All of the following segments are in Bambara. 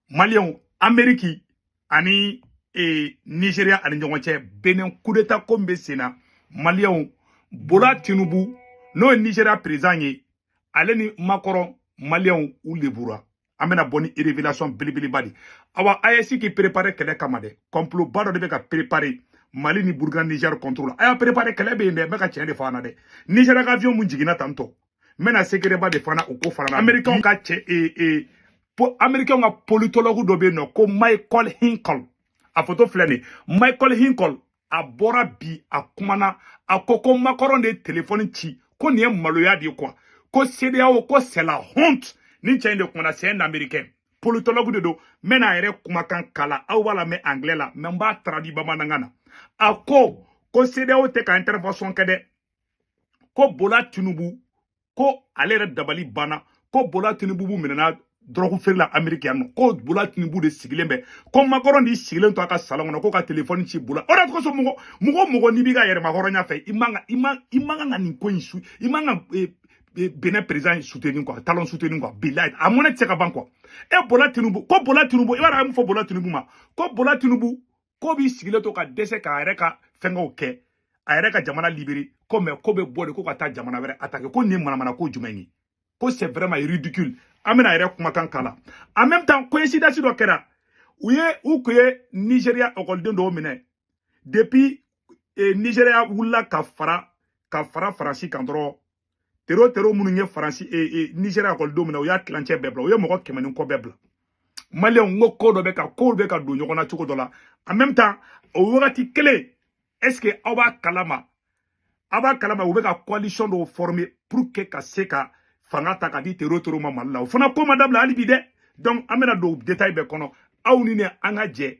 maliyɛnw ameriki ani e, nigeria ani ɲɔgɔn cɛ benin kudeta ko min bɛ sen na maliyɛnw bola tinubu n'o ye nigeria perezan ye ale ni makɔrɔn maliyɛnw u lebura an bɛna bɔ ni revelation belebeleba de awa aes k'i prepare kɛlɛ kama dɛ complot ba dɔ de bɛ ka prepare mali ni burkina niger contre la a y'a prepare kɛlɛ bɛ yen dɛ n bɛ ka tiɲɛ de fɔ an na dɛ nigeria ka avion mun jiginna tantɔ n bɛna sekereba de fɔ an na o ko fana na amerikɛnw ka cɛ ee ee amerikɛnw ka politologue dɔ bɛ yen nɔ ko michael hinkle a foto filɛ nin michael hinkle a bɔra bi a kumana a ko ko makɔrɔn de ye telefɔni ci ko nin ye maloya de ye quoi ko sedeyawo ko c'est la honte nin cɛ in de kumana c'est un américain politologue de don n bɛna a yɛrɛ kumakan k'a la aw b'a lamɛn anglais la mais n b'a taradi bamanankan na a ko ko sedeyawo tɛ ka intervention kɛ dɛ ko bola tinubu ko ale yɛrɛ dabali banna ko bola tinubu kun minɛna dɔrɔgu feere la ameriki yan nɔ ko bola tinubu de sigilen bɛ ko makɔrɔn de sigilen to a ka salon kɔnɔ ko ka telefɔni ci bola o de kosɔn mɔgɔ mɔgɔ mɔgɔ n'i b'i ka yɛrɛmahɔrɔnya fɛ i man ka i man i man kan ka nin ko in su i man ka eh, eh, benin président in soutenir quoi talon soutenir quoi bilayi a mɔnɛ tɛ se ka ban quoi e bola tinubu ko bola tinubu i b'a dɔn a ye mun fɔ bola tinubu ma ko bola tinubu ko b'i sigilen to ka dɛsɛ k'a yɛrɛ ka fɛngɛw kɛ a yɛrɛ ka jamana libere ko mais ko bɛ bɔ de ko ka taa jamana wɛrɛ atake ko nin ye manamana ko jumɛn ye ko c'est vraiment ridicule an bɛna a yɛrɛ kumakan k'a la en même temps coïncidence dɔ kɛra u ye u kun ye nigeriya ekɔliden dɔw minɛ depuis eh, nigeriya wulila ka fara ka fara faransi kan dɔrɔn tero tero minnu ye faransi e, e, nigeriya ekɔlidenw minɛ u y'a tilancɛ bɛɛ bila u ye mɔgɔ kɛmɛ ni kɔ bɛɛ bila maliyɛnw n ko ko dɔ bɛ ka kow bɛ ka don ɲɔgɔn na cogo dɔ la en même temps o wagati kelen est ce que aw b'a kalama aw b'a kalama u bɛ ka coalition dɔw former pour que ka se ka fanga ta ka di tero tero ma mali la o fana ko ma dabila hali bi dɛ donc an bɛna don détail bɛɛ kɔnɔ aw ni ne an ka jɛ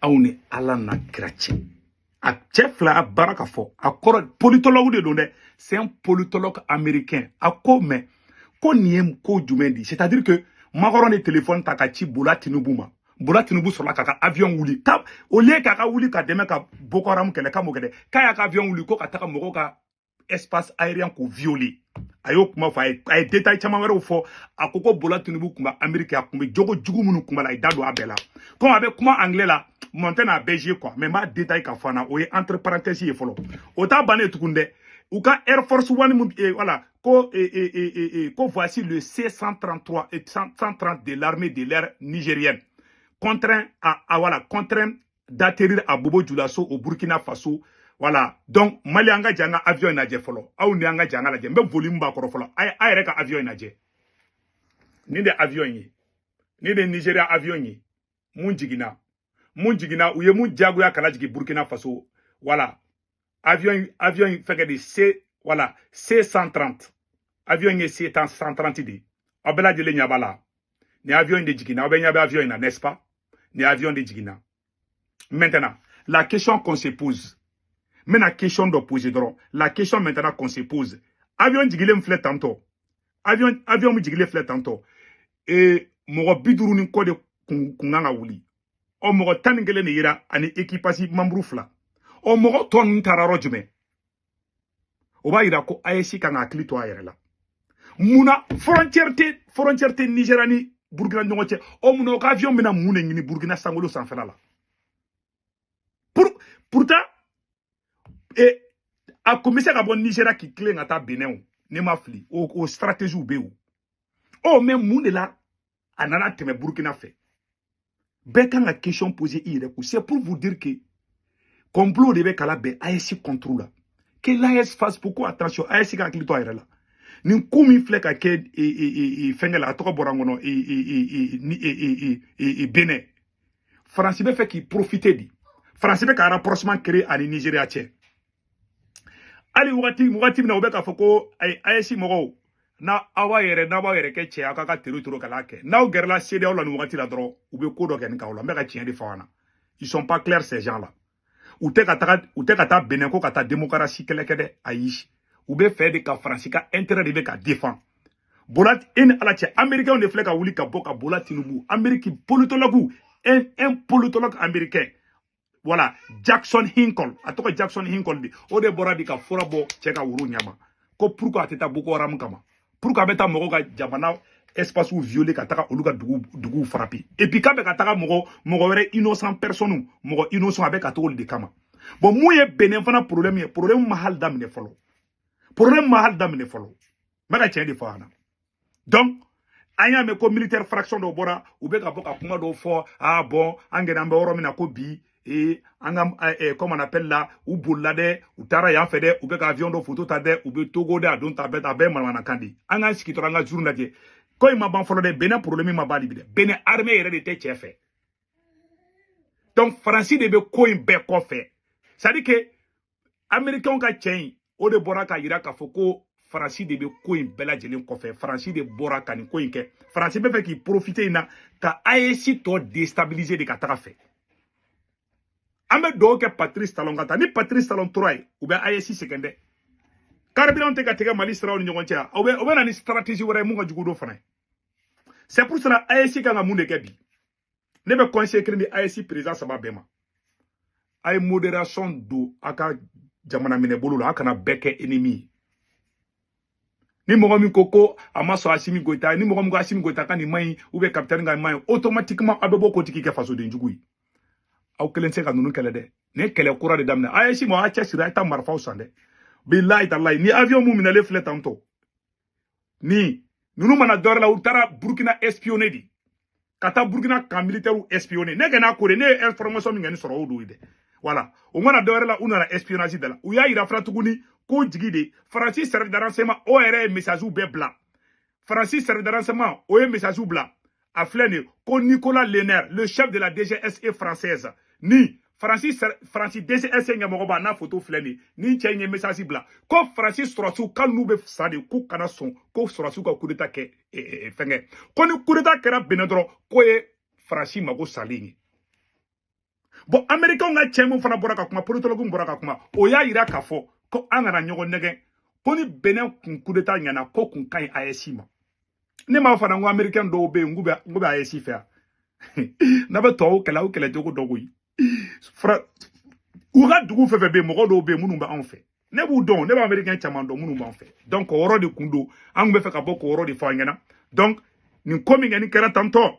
aw ni ala n'a kira cɛ a cɛ filɛ a b'a la ka fɔ a kɔrɔ politologue de don dɛ c'est un politologue américain a ko mais ko nin ye ko jumɛn di c'est à dire que makɔrɔn ye telefɔni ta ka ci bola tinubu ma bola tinubu sɔrɔla k'a ka avion wuli ka au lieu k'a ka wuli ka dɛmɛ ka boko haram kɛlɛ k'a m'o kɛ dɛ k'a y'a ka avion wuli ko ka taga mɔgɔw ka espace aérien k'o violer a y'o kuma fɔ a ye détail caman wɛrɛw fɔ a ko ko bola tinubu kun bɛ ameriki a kun bɛ jogo jugu minnu kun b'a la i da don a bɛɛ la komi a bɛ kuma anglais la bon n tɛna a bɛɛ jouer quoi mais n b'a détailler k'a fɔ an na o ye entre parenthèse ye fɔlɔ o t'a bannen tugun dɛ u ka air force one min eh, voilà ko eh, eh, eh, eh, eh, ko voici le c 133 eh, 130 de l'armée de l'air nigérienne contraint à, à voilà contraint d'atterrir à Bobo Dioulasso au Burkina Faso. Voilà. Donc, Mali anga janga avion na je folo. Au ni anga janga la je. Mbe volume ba koro folo. Ay ay reka avion na je. Ni de avion yi. Ni de Nigeria avion yi. Mun jigina. Mun jigina. Uye mun jago ya kala jigi Burkina Faso. Voilà. avion avion in fɛngɛ de C voilà C 130 avion ye C 130 de ye aw bɛɛ lajɛlen ɲɛ b'a la nin avion in de jiginna aw bɛɛ ɲɛ bɛ avion in na n'est-ce pas nin avion de jiginna maintenant la question qu'on se pose n bɛna question dɔ poser dɔrɔn la question maintenant qu'on se pose avion jigilen filɛ tantôt avion avion min jigilen filɛ tantôt ee mɔgɔ bi duuru ni kɔ de kun kun kan ka wuli ɔ mɔgɔ tan ni kelen de yira ani équipage membre fila ɔ mɔgɔ tɔ ninnu taara yɔrɔ jumɛn o b'a yira ko AES kan ka hakili to a yɛrɛ la mun na frontière tɛ frontière tɛ nigeriya ni burukina ɲɔgɔn cɛ ɔ mun na u ka avion bɛna mun de ɲini burukina sankolo sanfɛla la pour pourtant e a kun bɛ se ka bɔ nigeriya k'i tilen ka taa benin o ne ma fili o o stratégie bɛ yen o ɔ mais mun de la a nana tɛmɛ burukina fɛ bɛɛ kan ka question pose i yɛrɛ ko c'est pour vous dire que complot de bɛ ka labɛn AES contre la que l'AES fasse beaucoup attention AES ka hakili to a yɛrɛ la nin ko min filɛ ka kɛ fɛnkɛ la a tɔgɔ bɔra n kɔnɔ benin faransi bɛ fɛ k'i profite de faransi bɛ ka rapprochement créer a ni nigeriya cɛ hali wagati wagati min na u bɛ k'a fɔ ko AES mɔgɔw na aw b'a yɛrɛ n'a b'aw yɛrɛ kɛ cɛ ye k'a ka territoire kana kɛ n'aw gɛrɛla CEDEAO la nin wagati la dɔrɔn u bɛ ko dɔ kɛ an kan o la n bɛ ka tiɲɛ de fɔ aw ɲɛ na ils sont pas clairs ces gens là u tɛ ka taga u tɛ ka taa benin ko ka taa demokarasi kɛlɛ kɛ dɛ ayi u bɛ fɛ de ka faransi ka intérêt de bɛ ka défendre bola e ni ala cɛ américainw de filɛ ka wuli ka bɔ ka bola tinubu amérique politologue un un politologue américain voilà jackson hinkle a tɔgɔ jackson hinkle de o de bɔra bi ka fura bɔ cɛ ka woro ɲɛ ma ko pourquoi a tɛ taa boko haram kama pourquoi a bɛ taa mɔgɔw ka jamana espacew violer ka taga olu ka dugu duguw frapper et puis k'a bɛ ka taga mɔgɔ mɔgɔ wɛrɛ innocent personne mɔgɔ innocent a bɛ ka t'olu de kama bon min ye benin fana problème ye problème ma hali daminɛ fɔlɔ problème ma hali daminɛ fɔlɔ n bɛ ka tiɲɛ de fɔ yan donc an y'a mɛn ko militaire fraction dɔ bɔra u bɛ ka bɔ ka kuma dɔw fɔ ah bon an gɛrɛ an bɛ yɔrɔ min na ko bi ee an ka eh, comme on appelle là u bolila dɛ u taara yan fɛ dɛ u bɛ ka avion dɔ photo ta dɛ u bɛ togo dɛ a don ta bɛɛ ta a bɛɛ ye manamanakan de ye an k'an sigi dɔrɔn an ka juru lajɛ ko in ma ban fɔlɔ dɛ benin problème ma ban de bi dɛ benin armée yɛrɛ de tɛ cɛ fɛ donc faransi de bɛ ko in bɛɛ kɔfɛ c'est à dire que amerikɛnw ka cɛ in o de bɔra ka yira k'a fɔ ko faransi de bɛ ko in bɛɛ lajɛlen kɔfɛ faransi de bɔra ka nin ko in kɛ faransi bɛ fɛ k'i profite in na ka AES tɔ déstabiliser de ka taga a fɛ an bɛ dugawu kɛ patrice talon ka taa ni patrice talon tora yen u bɛ AES sɛgɛn dɛ carburantw tɛ ka tigɛ mali siraw ni ɲɔgɔn cɛ u bɛ u bɛ na ni stratégie wɛrɛ ye min ka jugu n'o fana ye c'est pour cela AES kan ka mun de kɛ bi ne bɛ conseil kelen di AES président saba bɛɛ ma a ye modération don a ka jamana minɛ bolo la a kana bɛɛ kɛ ennemi ye ni mɔgɔ min ko ko a ma sɔn Asimi Goyita ye ni mɔgɔ min ko Asimi Goyita ka nin man ɲi ou bien capitaine ka nin man ɲi automatiquement aw bɛ bɔ k'o tigi kɛ fasoden jugu ye aw kelen tɛ se ka ninnu kɛlɛ dɛ nin ye kɛlɛ kura de daminɛ AES mɔgɔ a cɛsiri a ye taa marifaw san dɛ bilayi talayi ni avion min minɛlen filɛ tantôt ni ninnu ma na dɔwɛrɛ la u taara burkina espionner de ka taa burkina ka militaires espionner ne ɲɛna ko de ne ye information min kɔni sɔrɔ o don dɛ voilà u ma na dɔwɛrɛ la u nana espionnage de la u y'a yira fana tuguni ko jigi de faransi service de renseignement o yɛrɛ ye messages bɛɛ bila faransi service de renseignement o ye messages bila a filɛ nin ye ko nicolas lerner le chef de la dgse française ni faransi faransi dgse ɲɛmɔgɔba n'a foto filɛ nin ye ni cɛ in ye message bila ko faransi sɔrɔsiw k'ali n'u bɛ sa de k'u kana sɔn ko sɔrɔsiw ka kudeta kɛ e, e, e, fɛnkɛ ko ni kudeta kɛra benin dɔrɔn k'o ye faransi mago salen ye bon amerikɛnw ka cɛ min fana bɔra ka kuma politologue bɔra ka kuma o y'a yira k'a fɔ ko an kana ɲɔgɔn nɛgɛn ko ni benin kun kudeta ɲɛna k'o kun ka ɲi AES ma ne m'a fɔ an na ko amerikɛn dɔw bɛ yen k'u bɛ AES fɛ yan n'a bɛ tɔw kɛlɛ aw kɛlɛ cogo dɔn koyi u ka dugu fɛn fɛn bɛ yen mɔgɔ dɔw bɛ yen minnu bɛ anw fɛ ne b'u dɔn ne bɛ amerikɛn caman dɔn minnu b'an fɛ donc o yɔrɔ de kun don an tun bɛ fɛ ka bɔ k'o yɔrɔ de fɔ an ɲɛna donc nin ko min kɔni kɛra tantôt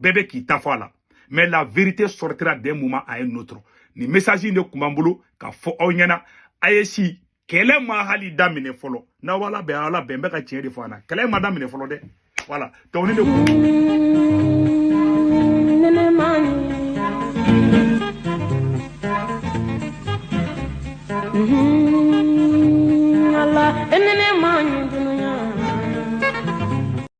bɛɛ bɛ k'i ta fɔ a la mais la vérité sortira d'un moment à un autre ni message in de tun b'an bolo ka fɔ aw ɲɛna AES kɛlɛ ma hali daminɛ fɔlɔ n'aw ala bɛ ala bɛ n bɛ ka tiɲɛ de fɔ an na kɛlɛ ma daminɛ fɔlɔ dɛ voilà donc ne de Mm-hmm.